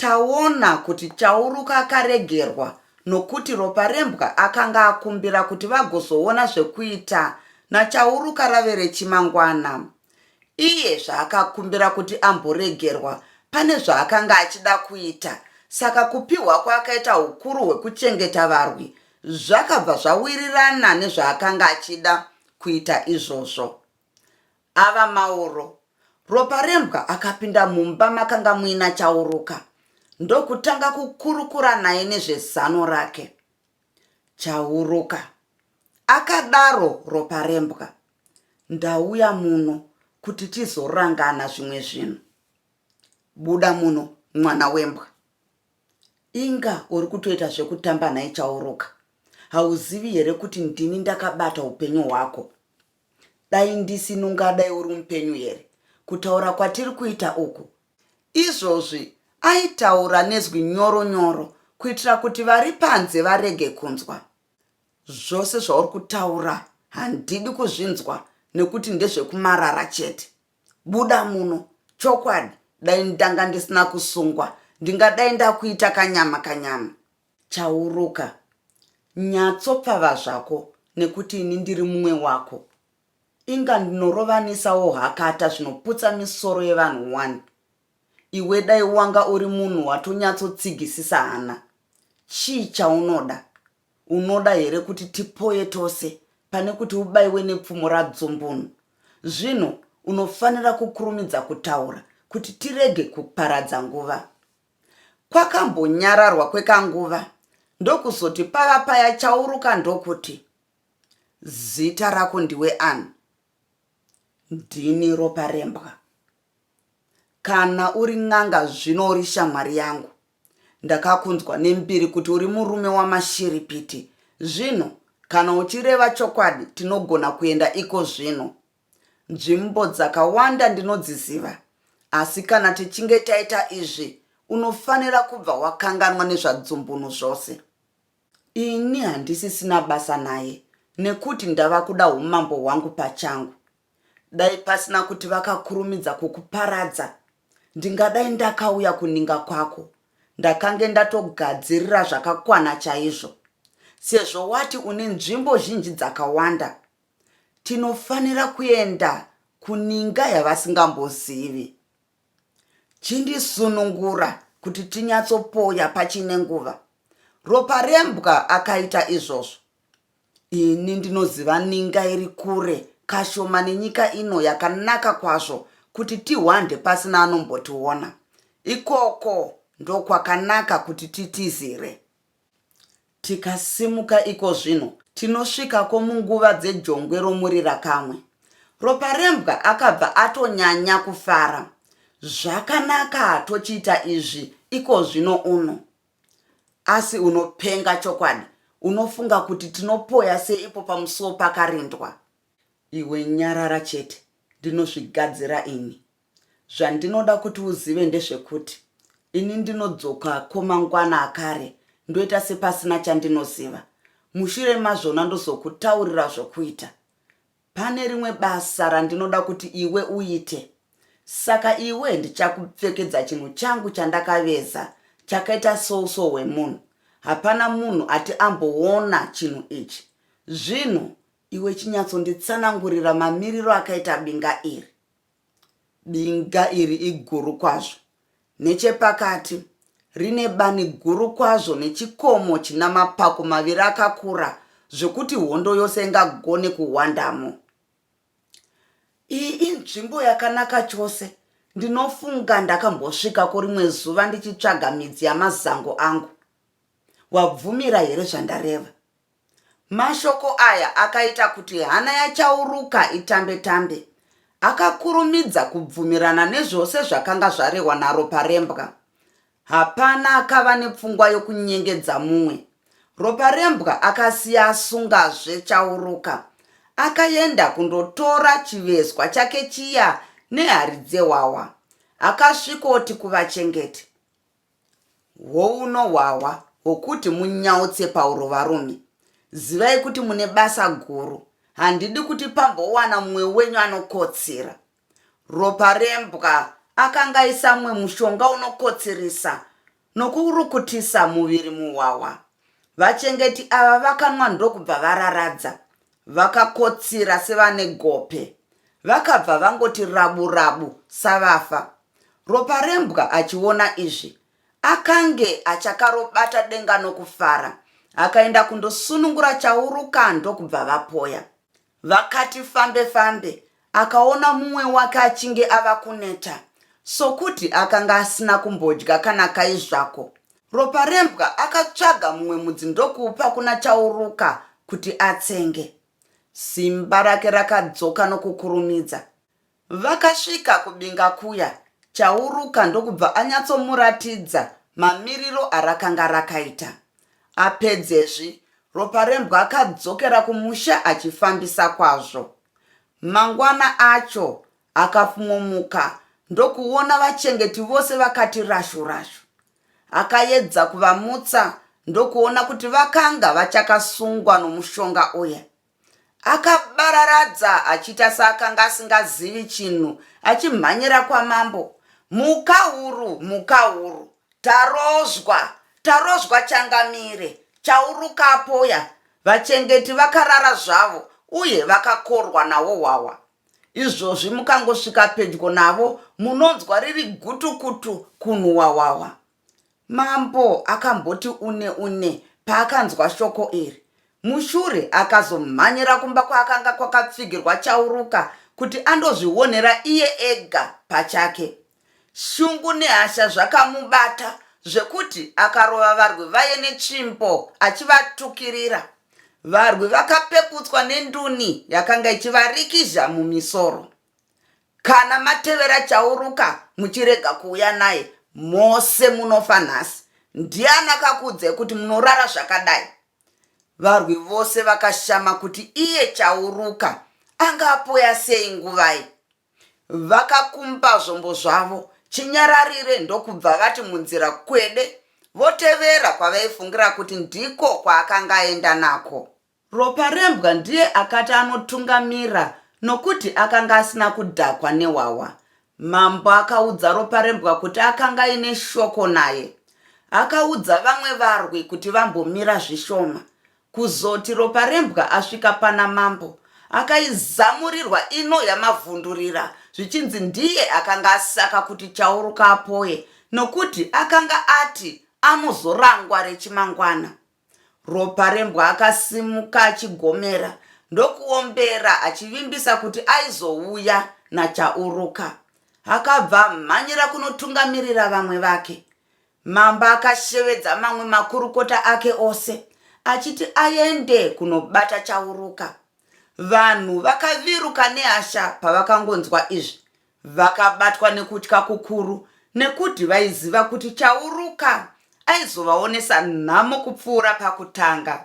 Taona kuti Chauruka akaregerwa nokuti Roparembwa akanga akumbira kuti vagozoona zvekuita naChauruka rave rechimangwana. Iye zvaakakumbira kuti amboregerwa pane zvaakanga achida kuita saka kupihwa kwaakaita hukuru hwekuchengeta varwi zvakabva zvawirirana nezvaakanga achida kuita izvozvo. Ava Mauro. Roparembwa akapinda mumba makanga muina Chauruka ndokutanga kukurukura naye nezvezano rake. Chauruka. Akadaro Roparembwa. Ndauya muno kuti tizorangana zvimwe zvinhu. Buda muno mwana wembwa. Inga uri kutoita zvekutamba nhai Chauruka. Hauzivi here kuti ndini ndakabata upenyu hwako? Dai ndisini ungadai uri mupenyu here? Kutaura kwatiri kuita uku. Izvozvi aitaura nezwi nyoro nyoro kuitira kuti vari panze varege kunzwa. Zvose zvauri kutaura handidi kuzvinzwa nekuti ndezvekumarara chete. Buda muno, chokwadi dai ndanga ndisina kusungwa ndingadai ndakuita kanyama kanyama. Chauruka, nyatsopfava zvako nekuti ini ndiri mumwe wako. Inga ndinorovanisawo hakata zvinoputsa misoro yevanhu wani. Iwe dai wanga uri munhu watonyatsotsigisisa hana. Chii chaunoda? Unoda here kuti tipoye tose pane kuti ubaiwe nepfumo radzumbunu? Zvino unofanira kukurumidza kutaura kuti tirege kuparadza nguva. Kwakambonyararwa kwekanguva ndokuzoti pava paya chauruka ndokuti, Zita rako ndiwe ani? Ndini Roparembwa. Kana uri n'anga zvino uri shamwari yangu. Ndakakunzwa nembiri kuti uri murume wamashiripiti. Zvino kana uchireva chokwadi tinogona kuenda iko zvino. Nzvimbo dzakawanda ndinodziziva, asi kana tichinge taita izvi, unofanira kubva wakanganwa nezvaDzumbunu zvose. Ini handisisina basa naye, nekuti ndava kuda umambo hwangu pachangu. Dai pasina kuti vakakurumidza kukuparadza, ndingadai ndakauya kuninga kwako, ndakange ndatogadzirira zvakakwana chaizvo. Sezvo wati une nzvimbo zhinji dzakawanda, tinofanira kuenda kuninga yavasingambozivi. Chindisunungura kuti tinyatsopoya pachine nguva. Ropa rembwa akaita izvozvo. Ini ndinoziva ninga iri kure kashoma nenyika ino yakanaka kwazvo kuti tihwande pasina anombotiona. Ikoko ndokwakanaka kuti titizire. Tikasimuka ikozvino, tinosvikako munguva dzejongwe romurirakamwe. Roparembwa akabva atonyanya kufara. Zvakanaka tochiita izvi ikozvino uno. Asi unopenga chokwadi, unofunga kuti tinopoya seipo pamusuo pakarindwa? Iwe nyarara chete, ndinozvigadzira ini. Zvandinoda kuti uzive ndezvekuti ini ndinodzoka ko mangwana akare ndoita sepasina chandinoziva. Mushure mazvona ndozokutaurira zvokuita. Pane rimwe basa randinoda kuti iwe uite. Saka iwe ndichakupfekedza chinhu changu chandakaveza chakaita souso hwemunhu. Hapana munhu ati amboona chinhu ichi. Zvino iwe chinyatsonditsanangurira mamiriro akaita binga iri. Binga iri iguru kwazvo nechepakati, rine bani guru kwazvo nechikomo china mapako maviri akakura zvokuti hondo yose ingagone kuhwandamo. Iyi inzvimbo yakanaka chose. Ndinofunga ndakambosvikako rimwe zuva ndichitsvaga midzi yamazango angu. Wabvumira here zvandareva? Mashoko aya akaita kuti hana yaChauruka itambe tambe. Akakurumidza kubvumirana nezvose zvakanga zvarehwa naRoparembwa. Hapana akava nepfungwa yokunyengedza mumwe. Roparembwa akasiya asungazve Chauruka. Akaenda kundotora chivezwa chake chiya nehari dzehwahwa. Akasvikoti kuvachengeti. Hwouno hwahwa hwokuti munyautse pauro varume. Zivai kuti mune basa guru. Handidi kuti pambowana mumwe wenyu anokotsira. Ropa rembwa akangaisa mumwe mushonga unokotsirisa nokurukutisa muviri muhwahwa. Vachengeti ava vakanwa ndokubva vararadza. Vakakotsira sevane gope. Vakabva vangoti rabu rabu savafa. Roparembwa achiona izvi akange achakarobata denga nokufara. Akaenda kundosunungura Chaurukando kubva vapoya. Vakati fambe fambe Akaona mumwe wake achinge ava kuneta sokuti akanga asina kumbodya kana kai zvako. Roparembwa akatsvaga mumwe mudzi ndokuupa kuna Chauruka kuti atsenge. Simba rake rakadzoka nokukurumidza. Vakasvika kubinga kuya, Chauruka ndokubva anyatsomuratidza mamiriro arakanga rakaita. Apedzezvi, Roparembwa akadzokera kumusha achifambisa kwazvo. Mangwana acho akafmomuka ndokuona vachengeti vose vakati rashu rashu. Akaedza kuvamutsa ndokuona kuti vakanga vachakasungwa nomushonga uya. Akabararadza achiita seakanga asingazivi chinhu achimhanyira kwamambo, Mhukahuru! Mhukahuru! Tarozwa, Tarozwa changamire, chaurukapoya, vachengeti vakarara zvavo uye vakakorwa naHohwahwa. Izvozvi mukangosvika pedyo navo munonzwa riri gutukutu kunhu Hwahwahwa. Mambo akamboti une une paakanzwa shoko iri. Mushure akazomhanyira kumba kwaakanga kwakapfigirwa chauruka kuti andozvionera iye ega pachake. Shungu nehasha zvakamubata zvekuti akarova varwi vaye netsvimbo achivatukirira. Varwi vakapekutswa nenduni yakanga ichivarikizha mumisoro. Kana matevera Chauruka muchirega kuuya naye, mose munofa nhasi. Ndiani akakuudzai kuti munorara zvakadai? Varwi vose vakashama kuti iye Chauruka anga apoya sei nguvai. Vakakumba zvombo zvavo chinyararire ndokubva vati munzira kwede votevera kwavaifungira kuti ndiko kwaakanga aenda nako. Roparembwa ndiye akati anotungamira nokuti akanga asina kudhakwa nehwahwa. Mambo akaudza Roparembwa kuti akanga aine shoko naye. Akaudza vamwe varwi kuti vambomira zvishoma. Kuzoti Roparembwa asvika pana mambo akaizamurirwa ino yamavhundurira zvichinzi ndiye akanga asaka kuti Chauruka apoye nokuti akanga ati anozorangwa rechimangwana. Roparembwa akasimuka achigomera ndokuombera achivimbisa kuti aizouya naChauruka. Akabva amhanyira kunotungamirira vamwe vake. Mambo akashevedza mamwe makurukota ake ose achiti aende kunobata Chauruka. Vanhu vakaviruka nehasha pavakangonzwa izvi. Vakabatwa nekutya kukuru nekuti vaiziva kuti Chauruka aizovaonesa nhamo kupfuura pakutanga.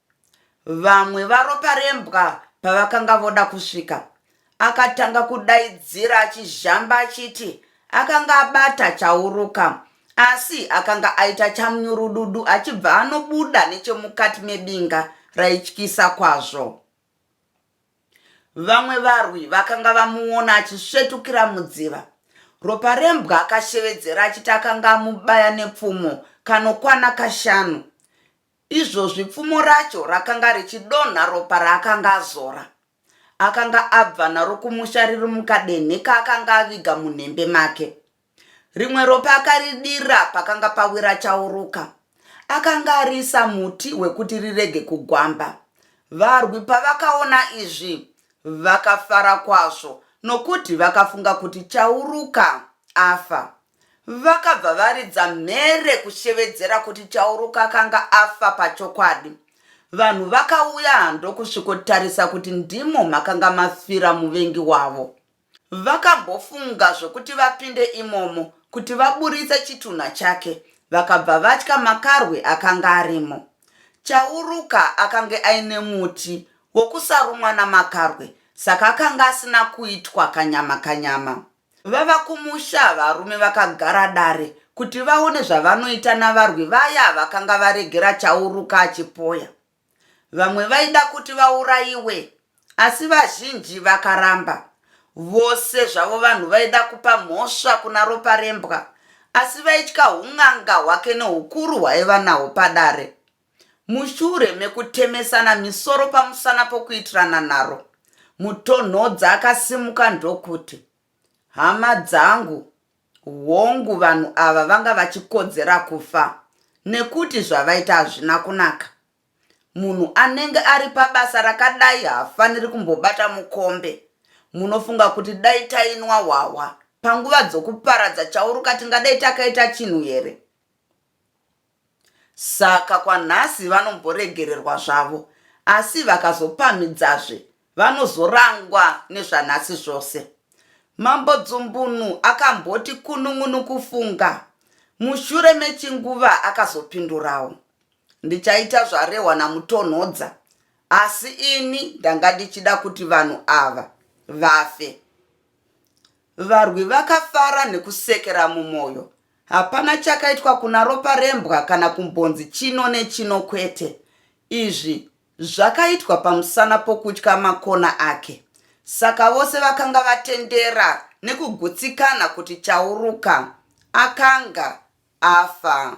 Vamwe vaRoparembwa pavakanga voda kusvika, akatanga kudaidzira achizhamba achiti akanga abata Chauruka asi akanga aita chamnyurududu achibva anobuda nechemukati mebinga raityisa kwazvo. Vamwe varwi vakanga vamuona achisvetukira mudziva. Roparembwa akashevedzera achiti akanga amubaya nepfumo kanokwana kashanu. Izvozvi pfumo racho rakanga richidonha ropa raakanga azora. Akanga abva naro kumusha riri mukadenhe kaakanga aviga munhembe make. Rimwe ropa akaridira pakanga pawira chauruka. Akanga ariisa muti wekuti rirege kugwamba. Varwi pavakaona izvi vakafara kwazvo nokuti vakafunga kuti chauruka afa. Vakabva varidza mhere kushevedzera kuti Chauruka akanga afa pachokwadi. Vanhu vakauya hando kusvikotarisa kuti ndimo makanga mafira muvengi wavo. Vakambofunga zvekuti vapinde imomo kuti vaburitse chitunha chake vakabva vatya makarwe akanga arimo. Chauruka akange aine muti wokusarumwa namakarwe saka akanga asina kuitwa kanyama kanyama. Vava kumusha, varume vakagara dare kuti vaone zvavanoita navarwi vaya vakanga varegera Chauruka achipoya. Vamwe vaida kuti vaurayiwe, asi vazhinji vakaramba. Vose zvavo vanhu vaida kupa mhosva kuna Roparembwa, asi vaitya hun'anga hwake neukuru hwaiva nahwo padare. Mushure mekutemesana misoro pamusana pokuitirana nharo, Mutonhodza akasimuka ndokuti, Hama dzangu, hongu vanhu ava vanga vachikodzera kufa nekuti zvavaita hazvina kunaka. Munhu anenge ari pabasa rakadai haafaniri kumbobata mukombe. Munofunga kuti dai tainwa hwahwa panguva dzokuparadza chauruka tingadai takaita chinhu here? Saka kwanhasi vanomboregererwa zvavo asi vakazopamhidzazve vanozorangwa nezvanhasi zvose. Mambo Dzumbunu akamboti kunun'unu kufunga mushure mechinguva akazopindurawo. Ndichaita zvarehwa naMutonhodza asi ini ndanga ndichida kuti vanhu ava vafe. Varwi vakafara nekusekera mumoyo Hapana chakaitwa kuna ropa rembwa kana kumbonzi chino nechino kwete. Izvi zvakaitwa pamusana pokutya makona ake. Saka vose vakanga vatendera nekugutsikana kuti Chauruka akanga afa.